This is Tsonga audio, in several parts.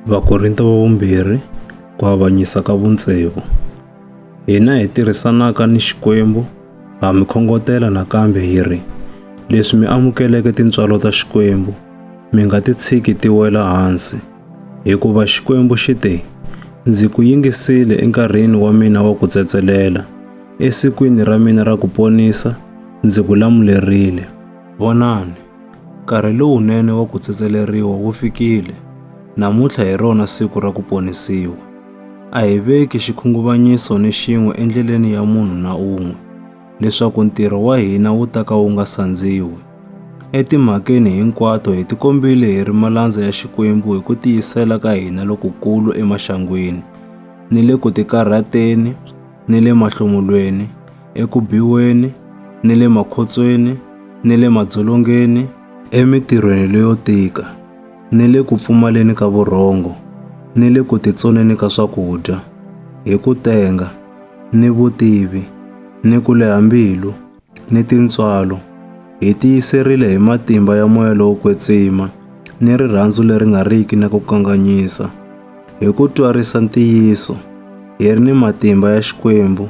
Vakorinto va vumbirhi ku avanyisa ka vuntsevu. Hina hi tirhisanaka ni Xikwembu ha mi khongotela nakambe hi ri, leswi mi amukeleke tintswalo ta Xikwembu, mi nga ti tshiki ti wela hansi. Hikuva Xikwembu xi te, Ndzi ku yingisile enkarhini wa mina wa ku tsetselela, esikwini ra mina ra ku ponisa ndzi ku lamulerile. Vonani, Nkarhi lowunene wa ku tsetseleriwa wu fikile. Namuntlha hi rona siku ra ku ponisiwa. A hi veki xikhunguvanyiso ni xin'we endleleni ya munhu na un'we, leswaku ntirho wa hina wu ta ka wu nga sandziwi. Etimhakeni hinkwato hi tikombile hi ri malandza ya Xikwembu hi ku tiyisela ka hina lokukulu emaxangwini, ni le ku tikarhateni, ni le mahlomulweni, eku biweni, ni le makhotsweni, ni le madzolongeni, emitirhweni leyo tika, ni le ku pfumaleni ka vurhongo, ni le ku titsoneni ka swakudya, hi ku tenga, ni vutivi, ni ku leha mbilu, ni tintswalo, hi tiyiserile hi matimba ya moya lowo kwetsima ni rirhandzu leri nga riki na ku kanganyisa, hi ku twarisa ntiyiso, hi ri ni matimba ya Xikwembu,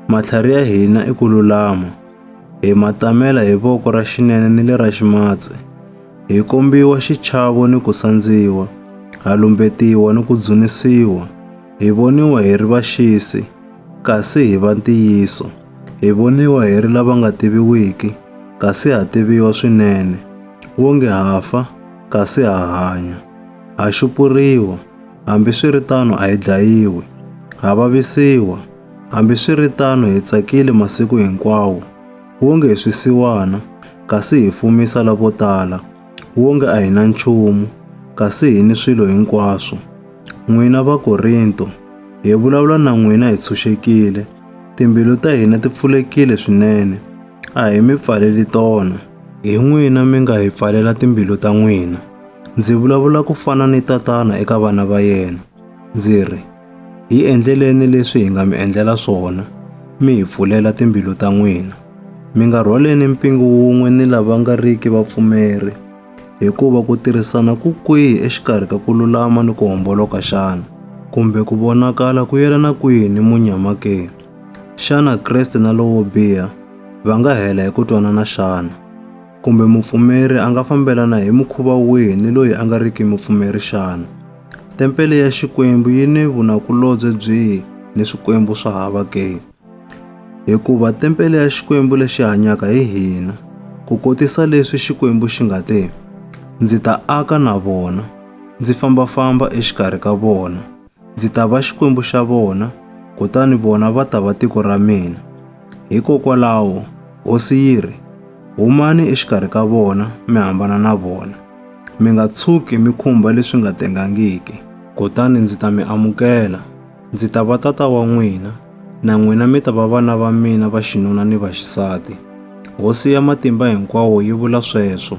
matlhari ya hina i ku lulama, hi matamela hi voko ra xinene ni le ra ximatsi, hi kombiwa xichavo ni ku sandziwa, ha lumbetiwa ni ku dzunisiwa, hi voniwa hi ri vaxisi, kasi hi va ntiyiso. Hi voniwa hi ri lava nga tiviwiki, kasi ha tiviwa swinene, wonge ha fa, kasi ha hanya. Ha xupuriwa, hambi swi ri tano a hi dlayiwi. Ha vavisiwa, hambi swi ri tano hi tsakile masiku hinkwawo, wonge hi swisiwana, kasi hi fumisa lavo tala, wonge a hi na nchumu, kasi hi ni swilo hinkwaswo. N'wina Vakorinto, hi vulavula na n'wina hi tshunxekile, Timbilu ta hina ti pfulekile swinene, a hi mi pfaleli tona. Hi n'wina mi nga hi pfalela timbilu ta n'wina. Ndzi vulavula ku fana ni tatana eka vana va yena. Ndzi ri, Hi endleleni leswi hi nga mi endlela swona, mi hi pfulela timbilu ta n'wina. Mi nga rhwaleni mpingu wun'we ni lava nga riki vapfumeri. Hikuva ku tirhisana ku kwihi exikarhi ka ku lulama ni ku homboloka xana? Kumbe ku vonakala ku yelana kwihi ni munyama ke? Xana Kreste na lowo biha va nga hela hi ku twanana xana? Kumbe mupfumeri a nga fambelana hi mukhuva wihi ni loyi a nga riki mupfumeri xana? Tempele ya Xikwembu yi ni vunakulobye byihi ni swikwembu swa hava ke? Hikuva tempele ya Xikwembu lexi hanyaka hi hina, ku kotisa leswi Xikwembu xi nga te, Ndzi ta aka na vona, ndzi famba-famba exikarhi ka vona, ndzi ta va Xikwembu xa vona, kutani vona va ta va tiko ra mina. Hikokwalaho, hosi yi ri, Humani exikarhi ka vona, mi hambana na vona. Mi nga tshuki mi khumba leswi nga tengangiki. Kutani ndzi ta mi amukela. Ndzi ta va tata wa n'wina, na n'wina mi ta va vana va mina va xinuna ni va xisati. Hosi ya Matimba Hinkwawo yi vula sweswo.